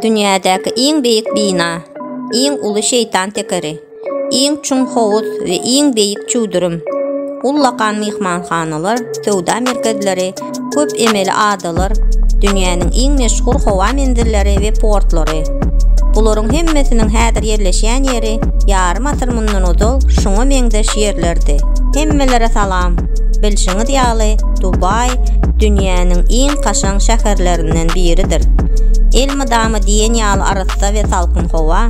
Dünýädäki iň beýik bina, iň uly şeýtan tekeri, iň çuň howuz we iň beýik çüwdürim, ullakan myhmanhanalar, söwda merkezleri, köp emeli adalar, dünýäniň iň meşhur howa menzilleri we portlary. Bularyň hemmesiniň häzir ýerleşýän ýeri ýarym asyr mundan ozal şuňa meňzeş ýerlerdi. Hemmelere salam! Bilşiňiz ýaly, Dubaý dünýäniň iň kaşaň şäherlerinden biridir. Elmydama diýen ýaly arassa we salkyn howa,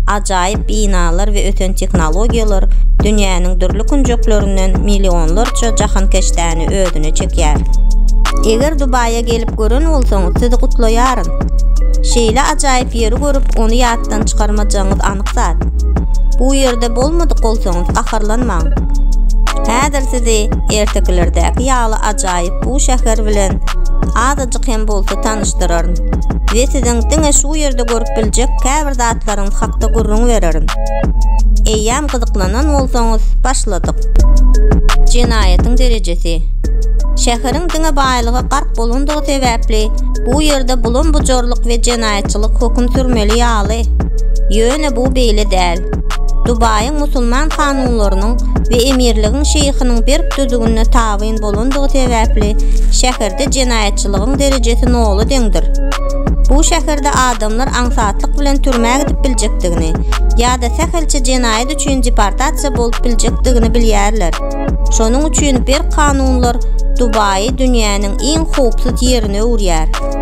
ajaýyp binalar we ösen tehnologiýalar dünýäniň dürli künjeklerinden millionlarça jahankeşdäni özüne çekýär. Eger Dubaýa gelip gören bolsaňyz, sizi gutlaýaryn. Şeýle ajaýyp ýeri görüp, ony ýatdan çykarmajagyňyz anyk. ýaşyk zat. Bu ýerde bolmadyk bolsaňyz gaharlanmaň. Häzir sizi ertekilerdäki ýaly ajaýyp bu şäher bilen azajyk hem bolsa tanyşdyraryn we siziň diňe şu ýerde görüp biljek käbir zatlaryňyz hakda gürrüň bererin. Eýýäm gyzyklanan bolsaňyz, başladyk. Jenaýatyň derejesi. Şäheriň diňe baýlyga gark bolandygy sebäpli bu ýerde bulam-bujarlyk we jenaýat şeriatçylyk höküm sürmeli ýaly. Ýöne bu beýle däl. Dubaýyň musulman kanunlarynyň we emirligiň şeýhiniň berk düzügine tabyn bolandygy sebäpli şäherde jenaýatçylygyň derejesi nola deňdir. Bu şäherde adamlar aňsatlyk bilen türmä gidip biljekdigini ýa-da sähelçe jenaýat üçin deportasiýa bolup biljekdigini bilýärler. Şonuň üçin berk kanunlar Dubaýy dünýäniň iň howpsuz ýerine öwürýär.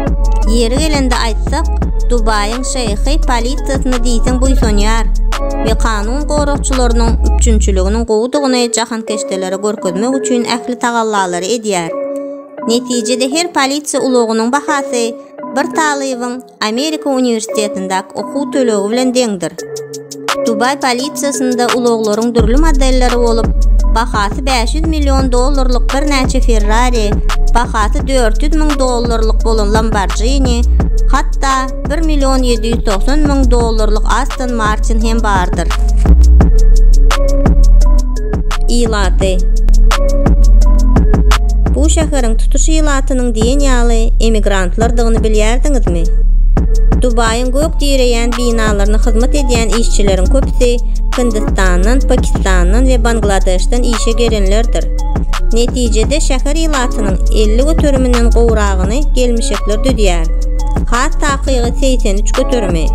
Ýeri gelende aýtsak, Dubaýyň şeýhi polisiýasyna diýseň buýsanýar we kanun goragçylarynyň üpjünçiliginiň gowudygyny jahankeşdelere görkezmek üçin ähli tagallalary edýär. Netijede her polisiýa ulagynyň bahasy bir talybyň Amerika uniwersitetindäki okuw tölegi bilen deňdir. Dubaý polisiýasynda ulaglaryň dürli modelleri bolup, bahasy bäş ýüz million dollarlyk birnäçe Ferrari, bahasy dört ýüz müň dollarlyk bolan Lamborghini, hatda bir million ýedi ýüz togsan müň dollarlyk Aston Martin hem bardyr. Ilaty Bu şäheriň tutuş ilatynyň diýen ýaly emigrantlardygyny bilýärdiňizmi? Dubaýyň gök direýän binalaryna hyzmat edýän işçileriň köpüsi Hindistandan, Pakistandan we Bangladeşden işe gelenlerdir. Netijede şäher ilatynyň 50 göteriminden gowragyny gelmişekler düzýär. Has takygy 83 göterimi.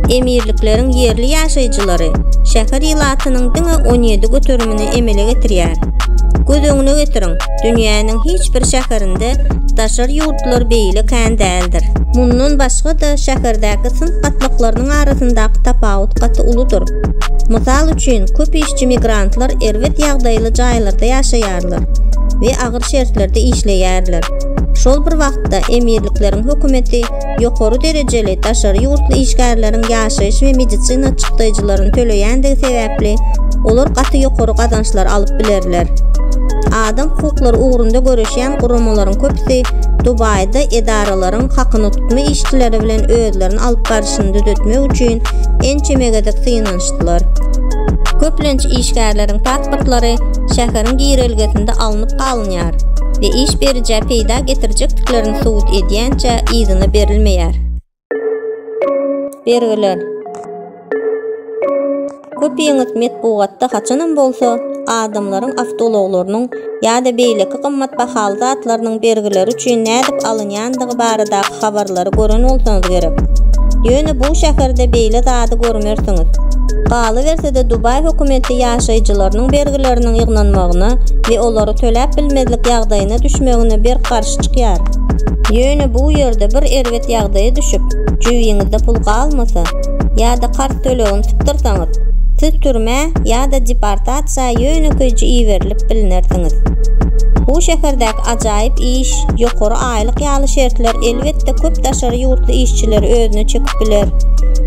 Emirlikleriň ýerli ýaşaýjylary şäher ilatynyň diňe 17 göterimini emele getirýär. Göz öňüne getiriň, dünýäniň hiç bir şäherinde daşary ýurt wagtlar beýle kän däldir. Mundan başga-da, şäherdäki synp gatlaklarynyň arasyndaky tapawut gaty uludyr. Mysal üçin, köp işçi migrantlar erbet ýagdaýly jaýlarda ýaşaýarlar we agyr şertlerde işleýärler. Şol bir wagtda, emirlikleriň hökümeti ýokary derejeli daşary ýurtly işgärleriň ýaşaýyş we medisina çykdaýjylaryny töleýändigi sebäpli, olar gaty ýokary gazançlar alyp bilerler. Adam hukuklary ugrunda göreşýän döwlet guramalaryň köpüsi Dubaýda edaralaryň hakynutma işçileri bilen özlerini alyp barşyny düzetmek üçin ençeme gezek synanyşdylar. Köplenç işgärleriň pasportlary şäheriň girelgesinde alnyp galynýar we iş berijä peýda getirjekdiklerini subut edýänçä yzyna berilmeýär. Bergiler. Köp ýeňiş metbugatda haçanam bolsa adamlaryň awtoulaglarynyň ýa-da beýleki gymmat bahaly zatlarynyň bergileri üçin nädip alynýandygy baradaky habarlary gören bolsaňyz gerek. Ýöne bu şäherde beýle zady görmersiňiz. Galyberse-de Dubaý hökümeti ýaşaýjylarynyň bergileriniň ýygnanmagyna we olary töläp bilmezlik ýagdaýyna düşmegine berk garşy. çykýar. Ýöne bu ýerde bir erbet ýagdaýa düşüp, jübiňizde pul galmasa, ýa-da karz tölegini tutdyrsaňyz, siz türmä ýa-da deportasiýa ýönekeýje iberilip bilnersiňiz. Bu şäherdäki ajaýyp iş, ýokary aýlyk ýaly şertler elbetde köp daşary ýurtly işçileri özüne çekip biler.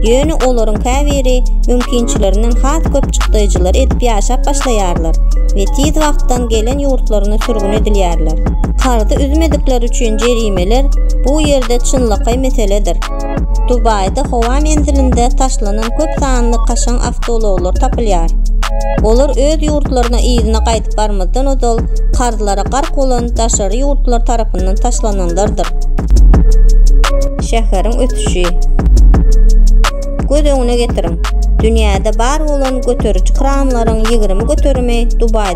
Ýöne olaryň käbiri mümkinçilerinden has köp çykdaýjylar edip ýaşap başlaýarlar we tiz wagtdan gelen ýurtlaryna sürgün edilýärler. Karzy üzmedikleri üçin jerimeler bu ýerde çynlakaý meseledir. Dubaýda howa menzilinde taşlanan köp sanly kaşaň awtoulaglar tapylýar. Olar öz ýurtlaryna yzyna gaýdyp barmazdan ozal karzlara gark bolan daşary ýurtlar tarapyndan taşlananlardyr. Şäheriň ösüşi. Göz öňüne getiriň, dünýäde bar bolan göteriji kranlaryň ýigrimi göterimi Dubaýda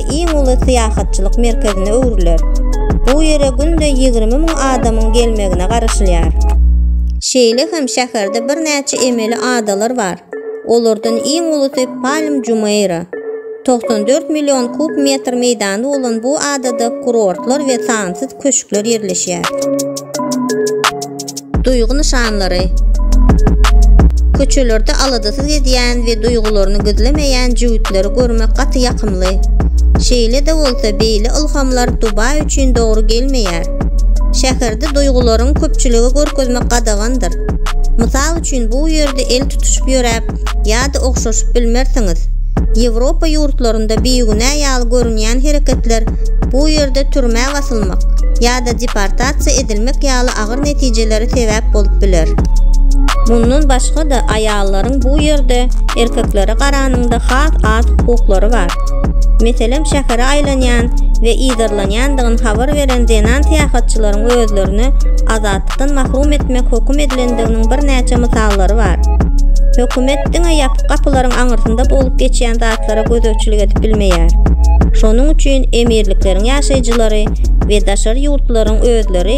iň uly syýahatçylyk merkezine öwrüler. Bu ýere günde ýigrimi müň adamyň gelmegine garaşylýar. Şeýle hem şäherde birnäçe emeli adalar bar. Olardan iň ulusy Palm Jumeýra. Togsan dört million kub metr meýdany bolan bu adada kurortlar we sansyz köşkler ýerleşýär. Duýgy nyşanlary. Köçelerde aladasyz gezýän we duýgularyny gizlemeýän jübütleri görmek gaty ýakymly. Şeýle-de bolsa, beýle ylhamlar Dubaý üçin dogry gelmeýär. Şäherde duýgularyňy köpçülige görkezmek gadagandyr. Mysal üçin, bu ýerde el tutuşyp ýöräp ýa-da ogşaşyp bilmersiňiz. Ýewropa ýurtlarynda bigünä ýaly görünýän hereketler bu ýerde türmä basylmak ýa-da deportasiýa edilmek ýaly agyr netijeleri sebäp bolup biler. Mundan başga-da, aýallaryň bu ýerde erkeklere garanyňda has az hukuklary bar. Meselem, şähere aýlanýan we yzarlanýandygyny habar beren zenan syýahatçylaryň özlerini azatlykdan mahrum etmek höküm edilendiginiň birnäçe mysallary bar. Hökümet diňe ýapyk gapylaryň aňyrsynda bolup geçýän zatlara gözegçilik edip bilmeýär. Şonuň üçin emirlikleriň ýaşaýjylary we daşary ýurtlaryň özleri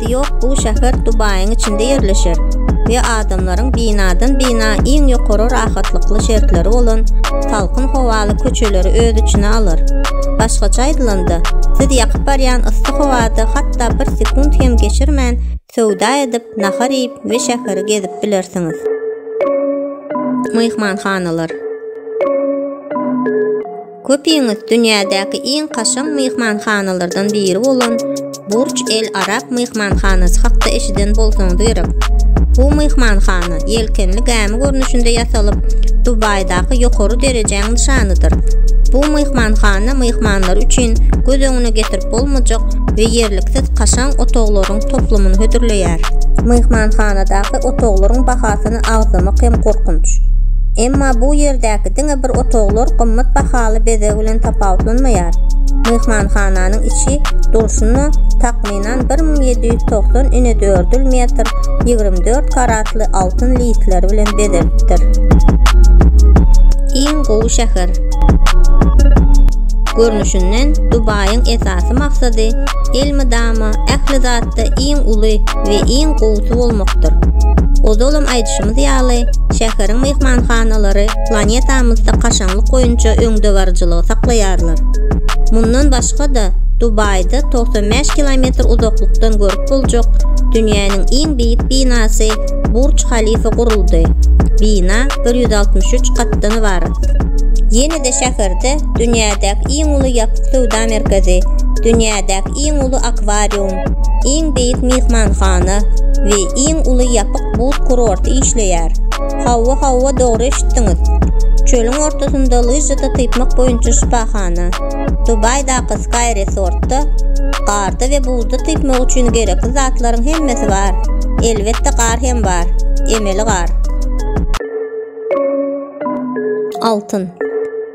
Gapysy ýok bu şäher Dubaýyň içinde ýerleşer we adamlaryň binadan-bina iň ýokary rahatlykly şertleri bolan salkyn howaly köçeleri öz içine alar. Başgaça aýdylanda, siz ýakyp barýan yssy howada hatda bir sekunt hem geçirmän söwda edip, nahar iýip we şäheri gezip bilersiňiz. Myhmanhanalar. Köpiňiz dünýädäki iň kaşaň myhmanhanalardan biri bolan Burç El Arab myhmanhanasy hakda eşiden bolsaňyz gerek. Bu myhmanhana ýelkenli gämi görnüşinde ýasalyp, Dubaýdaky ýokary derejäň nyşanydyr. Bu myhmanhana myhmanlar üçin göz öňüne getirip bolmajak we ýerliksiz kaşaň otaglaryň toplumyny hödürleýär. Myhmanhanadaky otaglaryň bahasyny agzamak hem gorkunç. Emma bu ýerdäki diňe bir otaglar gymmat bahaly bezeg bilen tapawutlanmaýar. Myhmanhananyň içi durşuna takmynan bir müň ýedi ýüz togsan inedördül metr ýigrimi dört karatly altyn listleri bilen bezelipdir. Iň gowy şäher. Görnüşinden Dubaýyň esasy maksady elmydama ähli zatda iň uly we iň gowusy bolmakdyr. Ozalam aýdyşym aýdyşymyz ýaly, şäheriň myhmanhanalary planetamyzda kaşaňlyk boýunça öňdebaryjylygy saklaýarlar. Mundan başga-da, Dubaýda 95 kilometr uzaklykdan görüp boljak dünýäniň iň beýik binasy Burj Khalifa guruldy. Bina 163 gatdan ybarat. Ýene-de şäherde dünýädäki iň uly ýapyk söwda merkezi, dünýädäki iň uly akwarium, iň beýik myhmanhana we iň uly ýapyk buz kurorty işleýär. Hawa, hawa, dogry eşitdiňiz. Çölüň ortasynda lyžada typmak boýunça şypahana. Dubaýdaky Sky Resort-da garda we buzda typmak üçin gerekli zatlaryň hemmesi bar. Elbetde, gar hem bar. Emeli gar. Altyn.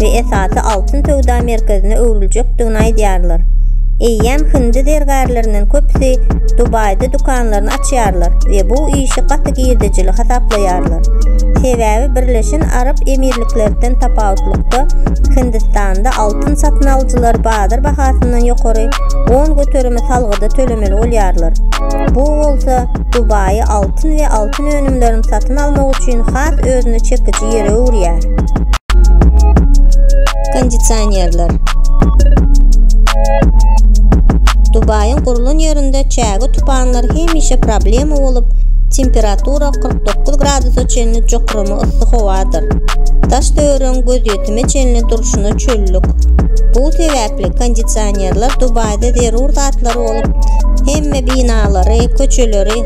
we esasy altyn söwda merkezine öwrüljekdigini aýdýarlar. Eýýäm hindi zergärlerinden köpüsi Dubaýda dükanlaryny açýarlar we bu işi gaty girdejili hasaplaýarlar. Sebäbi Birleşen Arap Emirliklerden tapawutlykda, Hindistanda altyn satyn alyjylar bazar bahasyndan ýokary on göterimi salgyda tölemeli bolýarlar. Bu bolsa Dubaýy altyn we altyn altyn önümlerini satyn almak üçin has özüne çekiji ýere öwürýär. Kondisionerler Dubaýyň gurlan ýerinde çäge tupanlar hemişe problema bolup, temperatura 49 gradusa çenli jokrama yssy howadyr. Daş töweregiň gözýetime çenli durşuna çöllük. Bu sebäpli kondisionerler Dubaýda zerur zatlar bolup, hemme binalary, köçeleri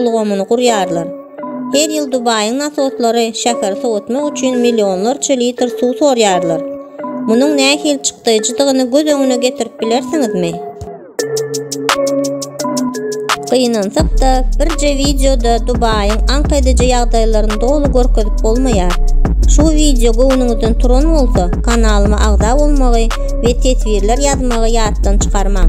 ulgamyny gurýarlar. Her ýyl Dubaýyň nasoslary şäheri sowatmak üçin millionlarça litr suw sorýarlar. Munuň nähili çykdaýjydygyny göz öňüne getirip bilersiňizmi? Gynansak-da, birje wideoda Dubaýyň aňk ediji ýagdaýlaryny doly görkezip bolmaýar. Şu wideo göwnüňizden turan bolsa, kanalyma agza bolmagy we teswirler ýazmagy ýatdan çykarmaň.